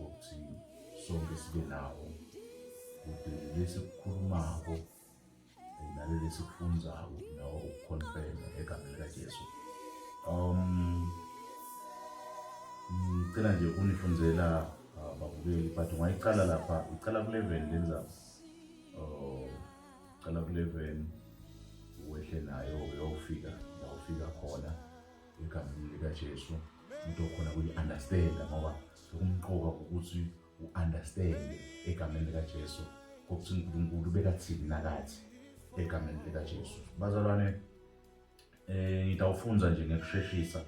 ngokuthi sonke sibe nawo kude lesi kukhulumako naleli sikufunzayo nawo ukukhonfema egameni likaJesu um ngicela nje ukunifundela uh, babukeli but ungayiqala lapha iqala ku-eleven lenza um iqala ku-eleven wehle nayo uyofika la ufika khona egameni likaJesu umuntu okhona kuyi-understanda ngoba okumqoka ukuthi u-understande egameni likaJesu kokuthi uNkulunkulu bekathini nakathi egameni likaJesu bazalwane eh ngitawufunza nje ngekusheshisa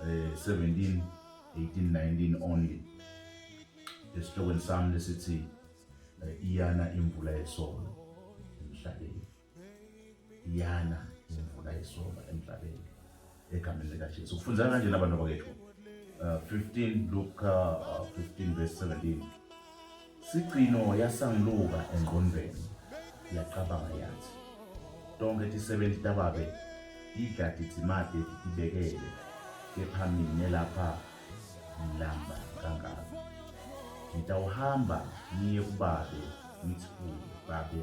eh 17 18 19 only esihlokweni sami lesithi eh, iyana imvula yesono emhlabeni yana imvula yesoka emhlabeni egameni likaJesu kufunza kanje nabantu bakethu uh, 15 Luka uh, 15 verse 17 sigcino yasangiluka engqondweni yacabanga yathi tonke tisebenzi tababe tidla tidzimate titibekele kepha mina lapha ngilamba kangaka ngitawuhamba ngiye kubabe ngithi kuye babe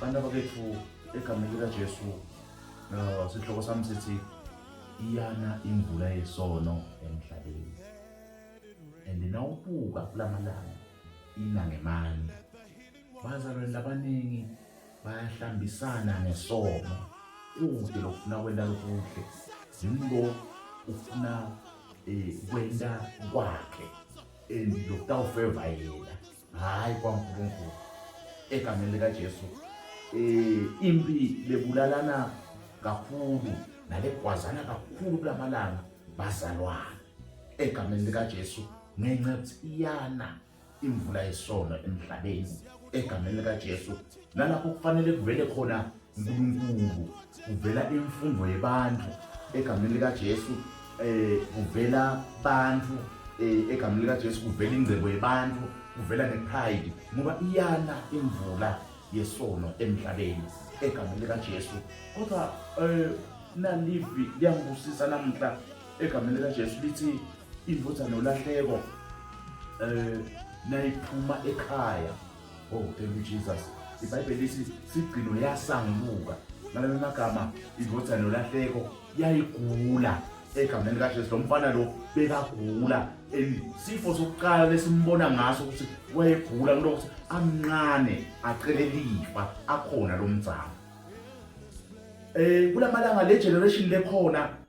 Bana bakethu egameni likaJesu uh, sihloko sami sithi iyana imvula yesono emhlabeni and nawubuka kulamalanga ina ngemandla bazalwane labaningi bayahlambisana ngesono kude lokufuna kwenda lokuhle zimbo ufuna um kwenda kwakhe and lokutawufeva yena hhayi kwaNkulunkulu egameni likaJesu eh impi bebulalana kakhulu nalegwazana kakhulu kulamalanga bazalwana egameni likaJesu ngencethiyana imvula yesono emhlabeni egameni likaJesu nalapho kufanele kuvele khona uNkulunkulu uvela imfundo yebantu egameni lika Jesu eh uvela bantu eh, egameni lika Jesu kuvela ingcebo yebantu kuvela ne pride ngoba iyana imvula yesono emhlabeni egameni lika Jesu kodwa eh nalivi liyangibusisa namuhla egameni lika Jesu lithi indvodzana olahleko eh nayiphuma ekhaya Oh, thank you Jesus. IBhayibheli lithi sigcino yasanguka. Ngalelo magama indodana yolahleko yayigula egameni kaJesu lo mfana lo bekagula sifo sokuqala lesimbona ngaso ukuthi wayegula kulokuthi amncane acele lifa akhona lo mzamo eh kulamalanga le generation lekhona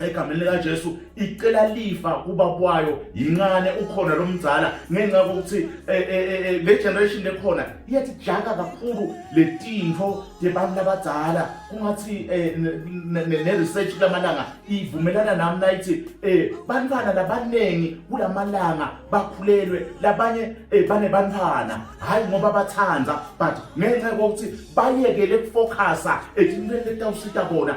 egameni likaJesu icela lifa kubaba wayo yincane ukhona lo mzala ngenxa kokuthi eh, eh, eh, le generation lekhona iyathi jaka kakhulu le tinto yebantu labadzala kungathi ne-research kulamalanga ivumelana nami nayithi um bantwana labaningi kulamalanga bakhulelwe labanye um banebantwana hhayi ngoba bathanda but ngenxa kokuthi bayekele kufocusa etintweni letawusita bona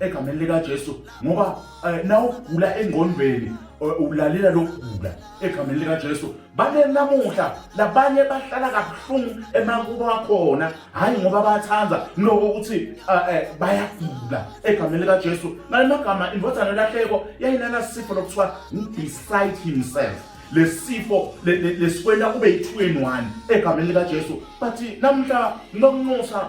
egameni likaJesu ngoba eh, nawugula engqondweni eh, ulalela lokugula egameni likaJesu bane namuhla labanye bahlala kabuhlungu emakubo akhona hayi ngoba bathanda lokho ukuthi eh, bayagula egameni likaJesu ngalemagama indodana lahleko yayinana sifo lokuthiwa beside himself lesifo lesikwela kube yi2 in 1 egameni likaJesu but namuhla nokunxusa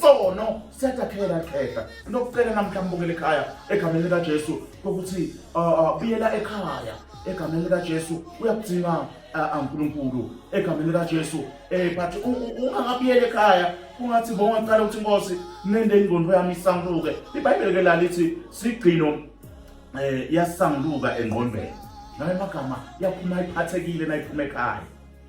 sono siyatakhela khehla nokufela namhla mbukela ekhaya egameni lika Jesu ukuthi buyela uh, uh, ekhaya egameni lika Jesu uyakudinga uh, uNkulunkulu egameni lika Jesu eh but ungakabuyela ekhaya kungathi bonga qala ukuthi inkosi nende ingqondo yami isanguluke iBhayibheli ke lalithi sigcino eh yasanguluka engqondweni ngamagama yaphuma iphathekile nayiphuma ekhaya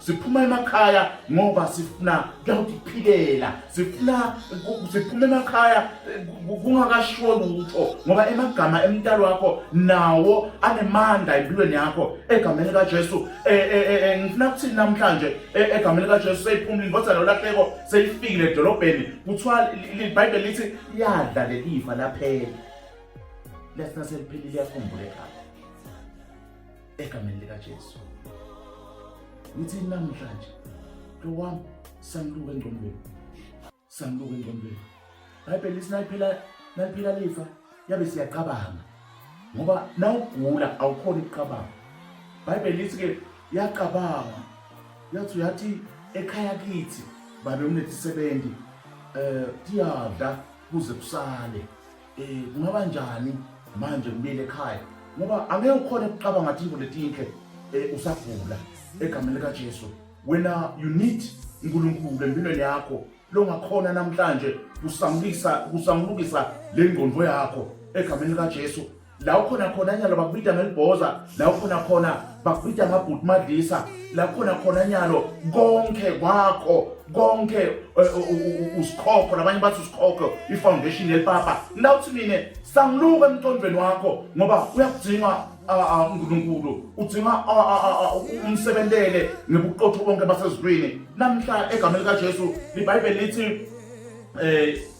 siphuma emakhaya ngoba sifuna kuyawutiphilela sifuna siphuma emakhaya kungakashiwo lutho ngoba emagama emntalo wakho nawo anemandla empilweni yakho egameni likaJesu e, e, e, ngifuna kuthini namhlanje egameni likaJesu seyiphumile inkosi lolahleko seyifikile edolobheni kuthiwa iBhayibheli lithi yadla lelifa laphela lesina seliphelile yakhumbule ekhaya egameni likaJesu. Ngithi namhlanje lo wami sangiluka engqondweni. Sangiluka engqondweni. Bhayibheli lithi naliphila naliphila lifa yabe siyacabanga. Ngoba nawugula awukhona ukucabanga. Bhayibheli lithi ke yacabanga yathi uyathi ekhaya kithi babe unesisebenzi eh tiyadla kuze kusale Eh kungaba njani manje ngibile ekhaya ngoba angeke ukhona ukuqaba ngathi into letinhle eh usagula egameni lika Jesu wena you need uNkulunkulu empilweni yakho longakhona namhlanje kusamukisa kusamukisa le ngqondo yakho egameni lika Jesu la ukhona khona nyalo bakubita ngelibhoza la ukhona khona bakubhida ngabhuti madlisa lakhona khona nyalo konke kwakho konke eh, usikhokho labanye bathi usikhokho ifoundation yelipapa lawuthi mina sangiluka emqondweni wakho ngoba uyakudinga uNkulunkulu udinga umsebentele ngebuqotho bonke basezulwini namhla egameni likaJesu iBhayibheli lithi eh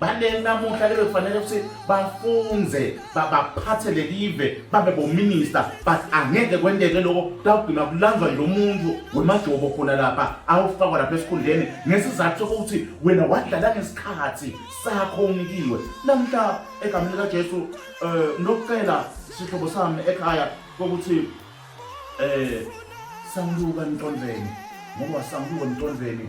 baningi namuhla ke bekufanele ukuthi bafunze babaphathe lelive babe bominista but angeke kwenteke lokho kuyawugcina kulanzwa nje umuntu wemajobo khona lapha awufakwa lapha esikhundleni ngesizathu sokuthi wena wadlala ngesikhathi sakho unikiwe namhla egameni likajesu um eh, nokucela sihlobo sami ekhaya kokuthi um eh, sangiluka emtondleni ngoba sangiluka emtondleni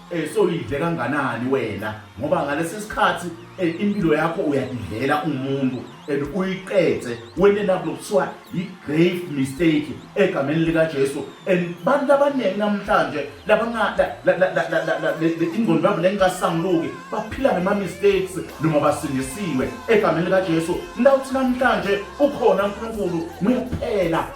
Eh so idle kanganani wena ngoba ngalesi sikhathi eh, impilo yakho uyadidlela umuntu and uyiqede wena lapho kuthiwa i grave mistake egameni lika Jesu and bantu abaningi namhlanje labangada ingqondo yabo lengasanguluki baphila ngema mistakes noma basindisiwe egameni lika Jesu lawuthi namhlanje ukhona uNkulunkulu kuphela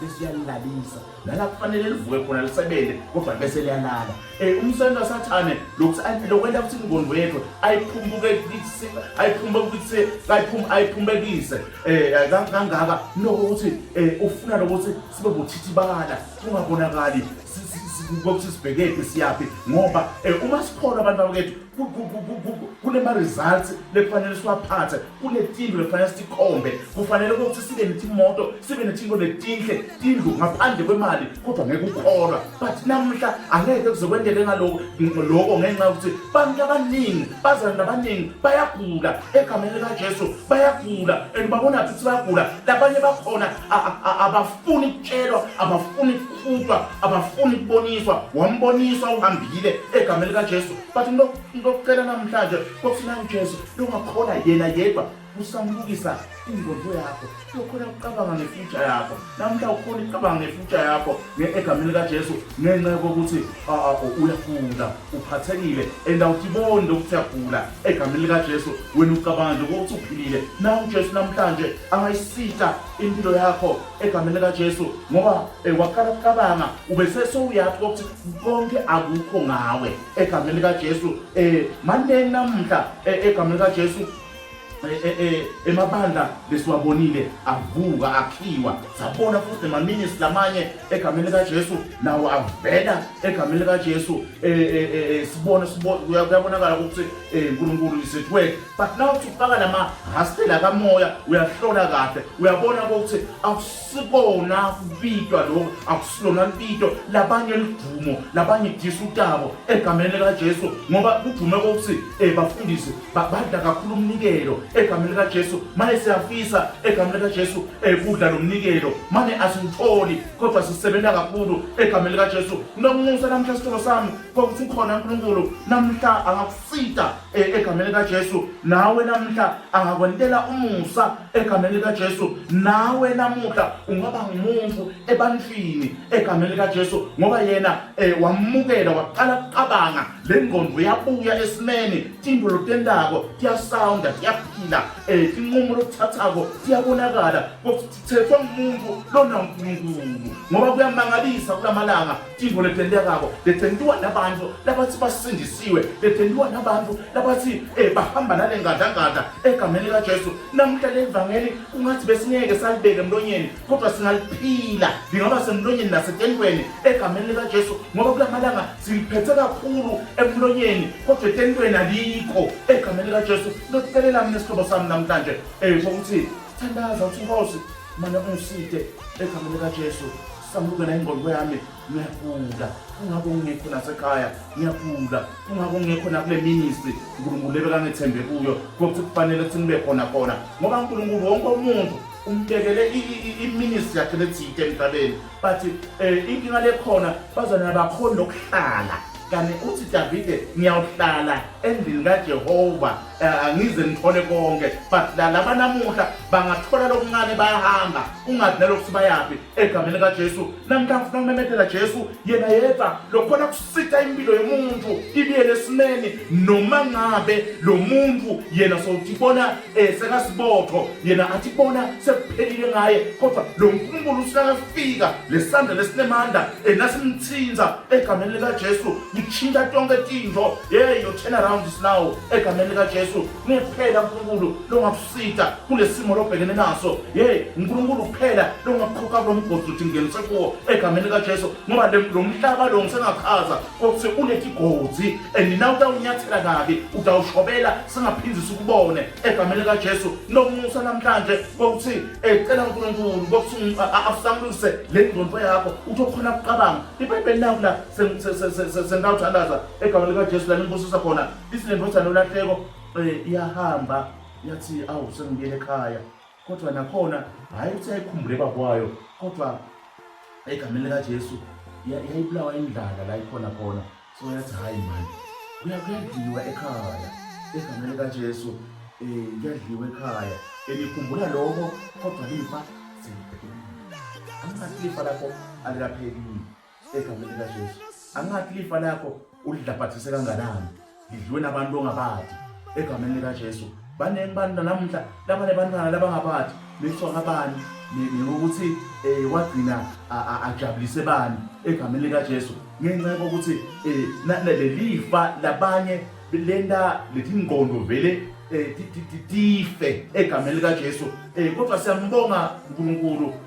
bese uyalilalisa nala kufanele livuke khona lisebenze kodwa bese liyalala um umsebenzi wasathane lokwenta ukuthi ingqondo yethu ayiphumbekise um kangaka nokuthi um ufuna lokuthi sibe buthithibala kungabonakali kokuthi sibhekephi siyaphi ngoba um uma sikholwa abantu bakethu kunema-results lekufanele siwaphathe kunetindlu lefanele sikhombe kufanele ukuthi sibe netimoto sibe nethinto letinhle tindlu ngaphandle kwemali kodwa ngeke ukholwa but namuhla angeke kuze kwendeke ngaloko loko ngenxa yokuthi bantu abaningi bazana nabaningi bayagula egameni likajesu bayagula and babona ukuthi bayagula labanye bakhona abafuni kutshelwa abafuni kukhutshwa abafuni kuboniswa wamboniswa uhambile egameni likajesu but ngilokutshela namhlanje kofuna ujesu lokungakhola yena yedwa usamukisa ingqondo yakho uyokhona ukucabanga ngefutsha yakho namhla ukhona ukucabanga ngefutsha yakho egameni likajesu ngenxa yokuthi uyagula uphathekile and awutiboni lokuthi uyagula egameni likajesu wena ucabanga nje kokuthi uphilile na ujesu namhlanje angayisita impilo yakho egameni likaJesu ngoba eh, waqala kucabanga ubesesowuyazi ukuthi konke akukho ngawe egameni likaJesu um eh, maneni namuhla eh, egameni likaJesu emabandla besiwabonile avuka akhiwa sabona futhi nemaminisi lamanye egameni likaJesu nawo avela egameni likaJesu sibona kuyabonakala ukuthi uNkulunkulu is at work but now uthi ufaka lama hastela kamoya uyahlola kahle uyabona ukuthi akusikona kubitwa lokho akusilona lubito labanye ludumo labanye idisa utabo egameni likajesu ngoba kudume kokuthi um bafundisi badla kakhulu umnikelo egameni likajesu mane siyafisa egameni likajesu um kudla lo mnikelo mane asiwutholi kodwa sisebenza kakhulu egameni likajesu nomusa namhla sitholo sami kokuthi ukhona unkulunkulu namhla Sita e, egameni likaJesu nawe namuhla angakwentela umusa egameni likaJesu nawe namuhla ungaba ngumuntu ebantwini egameni likaJesu ngoba yena e, wamukela waqala kucabanga le ngqondo yabuya esimeni tinto lotendako tiyasounda tiyaphila um e, tinqumo lokuthathako tiyabonakala kuthethwa ngumuntu lona nkulunkulu ngoba kuyamangalisa kula malanga Tintfo letentekako letentiwa nabantfu labatsi basindisiwe letentiwa nabantfu labatsi eh, bahamba nalengadlangadla egameni likajesu namuhla lelivangeli kungathi besingeke salibeke emlonyeni kodwa singaliphila lingaba semlonyeni nasetentweni egameni likajesu ngoba kula malanga siliphethe kakhulu emlonyeni kodwa etentweni alikho egameni likajesu lokucelela mina sihlobo sami namhlanje um kokuthi thandaza uthi nkosi mana ungiside egameni likajesu Sambuka la ingqondo yami ngiyagula kungako ngingekho nasekhaya ngiyagula kungako ngingekho nakule ministry uNkulunkulu lebekangethembe kuyo kokuthi kufanele ukuthi nibe khona khona ngoba uNkulunkulu wonke umuntu umbekele iministry yakhe lethite emhlabeni but um eh, inkinga lekhona bazona bakhona lokuhlala kanti uthi davide ngiyawuhlala endlini kajehova eh, angize ngithole konke but la laba namuhla bangathola lokuncane bayahamba ungazi nalokuthi bayaphi egameni kaJesu namkha ngifuna ukumemethela Jesu yena yedwa lokhona kusitha impilo yomuntu ibiyele esimeni noma ngabe lo muntu yena sowuthi bona eh, sekasibotho yena athi bona sekuphelile ngaye kodwa lo nkulunkulu usikakafika lesandla lesinemandla enasimthinza eh, egameni likaJesu ngitshintsha tonke tinto hey your turn around is now egameni likaJesu Nguye kuphela uNkulunkulu longakusita kulesimo lobhekene naso. Hey, uNkulunkulu kuphela longakukhokha kulomgozi uthi ngenise kuwo egameni kaJesu ngoba lomhlaba lo ngisengachaza ukuthi ulethi gozi and na utawunyathela kabi utawushobela singaphindi sikubone egameni kaJesu nomusa namhlanje kokuthi ecela uNkulunkulu kokuthi asamlise le ngqondo yakho uthi okhona kuqabanga iBhayibheli naku la sengawuthandaza egameni likaJesu la nimbusisa khona Ithi le ndodana uLahleko um iyahamba yathi awu sengibuyele ekhaya kodwa nakhona hhayi ukuthi yayikhumbule babwayo kodwa egameni likajesu yayibulawa indlala la ikhona khona so yathi hhayi mani kuyadliwa ekhaya egameni likajesu um eh, kuyadliwa ekhaya elikhumbula lokho kodwa lifa seliphelile angingasilifa lapho alikaphekile egameni likajesu angathi lifa lakho ulidlabhathise kanganani lidliwe nabantu ongabadi egameni likajesu baningi bantu nanamuhla labane bantwana labangabadi bethwa ngabani ngokuthi um eh, wagcina ajabulise bani egameni likajesu ngenxa yokuthi um eh, lelifa labanye lenta lethi ngqondo vele um tife egameni likajesu um kodwa siyambonga unkulunkulu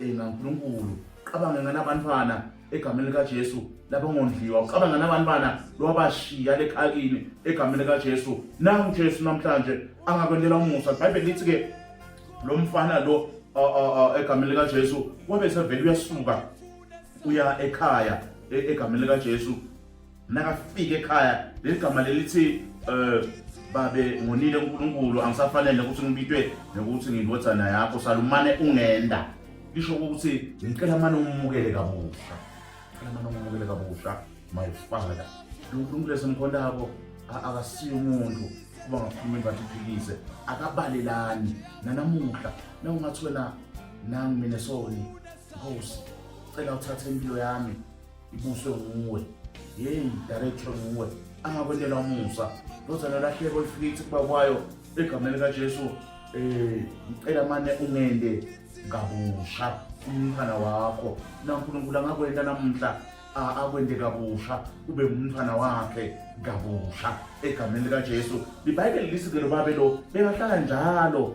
Ena uNkulunkulu, cabange nganabantwana egameni likaJesu labangondliwa ucabanga nabantwana lwabashiya lekhakini egameni likaJesu nangu Jesu namhlanje angakwendela umusa ibhayibheli lithi ke lo mfana lo egameni likaJesu wabe sevele uyasuka uya ekhaya e, egameni likaJesu Nakafika ekhaya leli gama lelithi eh babe ngonile uNkulunkulu angisafanele ukuthi ngibitwe nokuthi ngindodana yakho salumane ungenda lisho ukuthi ngicela mane umukele kabusha ngicela mane umukele kabusha my father uNkulunkulu esemkhondako akasiyo umuntu kuba ngakhuluma imbathi iphikise akabalelani nanamuhla nawungathi wena nami mina soni nkosi cela uthathe impilo yami ibuswe nguwe yeyi director nguwe angakwendela umusa ndozana lahleko ifike ithi kuba kwayo egameni kajesu um ngicela mane ungende kabusha umntwana wakho nankulunkulu angakwenta namuhla akwende kabusha ube ngumntwana wakhe kabusha egameni likajesu libhayibheli lisike lo babe lo bengahlala njalo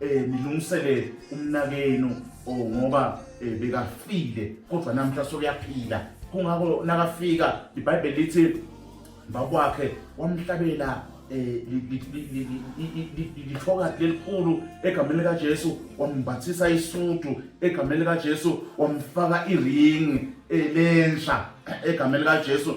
eh nilungiselele umnakenu oh, ngoba eh, bekafile kodwa namhla sokuyaphila kungako nakafika iBhayibheli lithi bakwakhe wamhlabela eh, lithoka lelikhulu egameni lika Jesu wambathisa isudu egameni lika Jesu wamfaka iring elensha egameni lika Jesu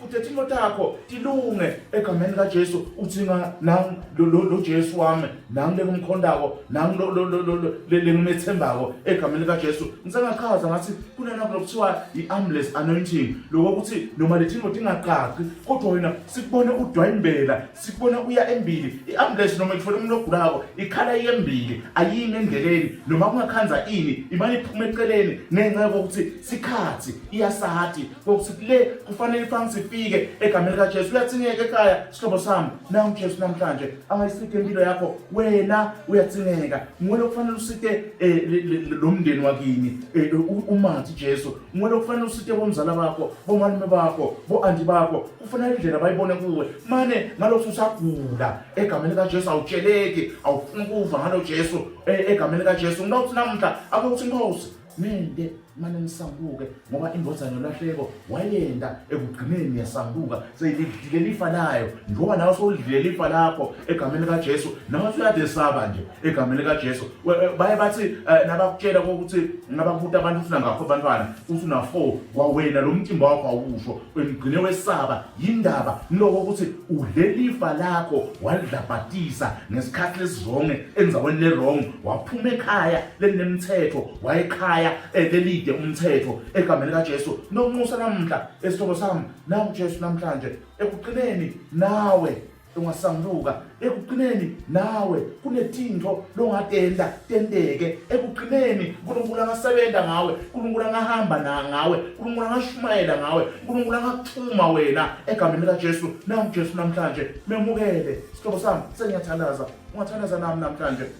Futhi ethi imoto yakho ilunge egameni kaJesu uthi nga nami lo lo lo Jesu wami nami lengimkhondako nami lo lo lo lo lengimethembako egameni kaJesu ngisengachaza ngathi kunena kulokuthiwa iambulance anointing lokho ukuthi noma lethi imoto ingaqaqi kodwa wena sikubone udwayimbela sikubona uya embili iambulance noma ikufuna umuntu ogulako ikhala iyembili ayimi endleleni noma kungakhanza ini imane iphuma eceleni ngenxa yokuthi sikhathi iyasati Ngokuthi kule kufanele ifanga sifike egameni likaJesu. Uyathingeka ekhaya sihlobo sami. Nawu uJesu namhlanje angayisike impilo yakho. Wena uyathingeka. Ngwele kufanele usite eh, lo mndeni wakini. Eh, umathi Jesu. Ngwele kufanele usite bomzala bakho, bomalume bakho, boanti bakho. Kufanele indlela bayibone kuwe. Mane ngalokho usagula egameni likaJesu awutsheleki, awufuni kuva ngalo Jesu eh, egameni likaJesu. Ngilokhu namhla akuthi inkosi Mende mane nisambuke ngoba indodana yolahleko wayenda ekugcineni yasambuka seyidlile lifa layo njengoba nawe sowudlile lifa lakho egameni likaJesu nawe usuyade saba nje egameni likaJesu eh, baye bathi eh, nabakutshela ukuthi nabakubuta abantu ufuna ngakho abantwana ufuna 4 kwawena lo mcimbi wakho awusho wengcine wesaba yindaba niloko ukuthi udle lifa lakho walidlabhatisa ngesikhathi lesizonge enzaweni lerong waphuma ekhaya lelinemthetho wayekhaya elelide umthetho egameni kaJesu nokunxusa namhla esihlobo sami nawe uJesu namhlanje ekugcineni nawe ungasambuka ekugcineni nawe kunetinto longatenda tendeke ekugcineni uNkulunkulu angasebenza ngawe uNkulunkulu angahamba ngawe uNkulunkulu angashumayela ngawe uNkulunkulu angakuthuma wena egameni likaJesu nawu Jesu namhlanje memukele sihlobo sami sengiyathalaza ungathalaza nami namhlanje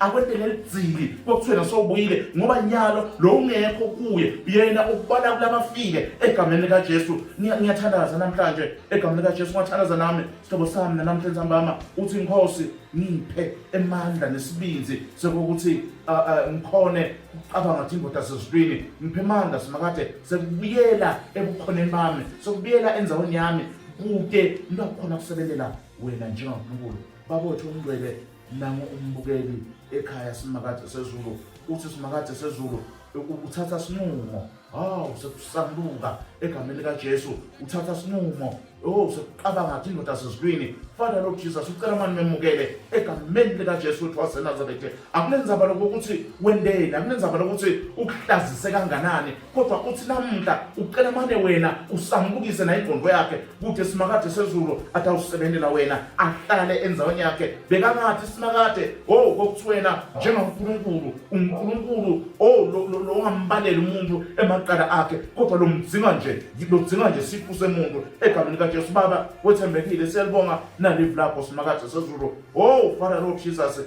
akwente lelidzili kwakuthiwe nasowubuyile ngoba nyalo lo ungekho kuye yena ukubala kulabafile egameni likajesu ngiyathandaza namhlanje egameni likajesu ngathandaza nami sihlobo sami nanamhlanje sambama uthi inkosi ngiphe emandla nesibinzi sekukuthi ngikhone ukucabanga ukuthi ingoda sezitwini ngiphe emandla simakade sekubuyela ebukhoneni bami sekubuyela enzaweni yami kude ngibakhona kusebenela wena njengankulunkulu babotho umngcwele nangu umbukeli ekhaya simakade sezulu uthi simakade sezulu uthatha sinqumo hawu sekusambuka egameni likajesu uthatha sinqumo o sekuqabanga athi indoda sezulwini father lord jesus ucela mani memukele egameni likajesu uthi wasenazarethe akunenzaba lokuthi wendeni akunenzaba lokuthi ukuhlazise kanganani kodwa uthi namuhla ucela mane wena usambukise naye ingqondo yakhe kude simakade sezulu athi awusebenzela wena ahlale enzaweni yakhe bekangathi simakade oh kokuthwena njengankulunkulu unkulunkulu oh lo ongambaleli umuntu emaqala akhe kodwa lo mdzinga nje lo dzinga nje sifu semuntu egameni kaJesu baba wethembekile siyalibonga nalive lakho simakade sezulu oh father lord jesus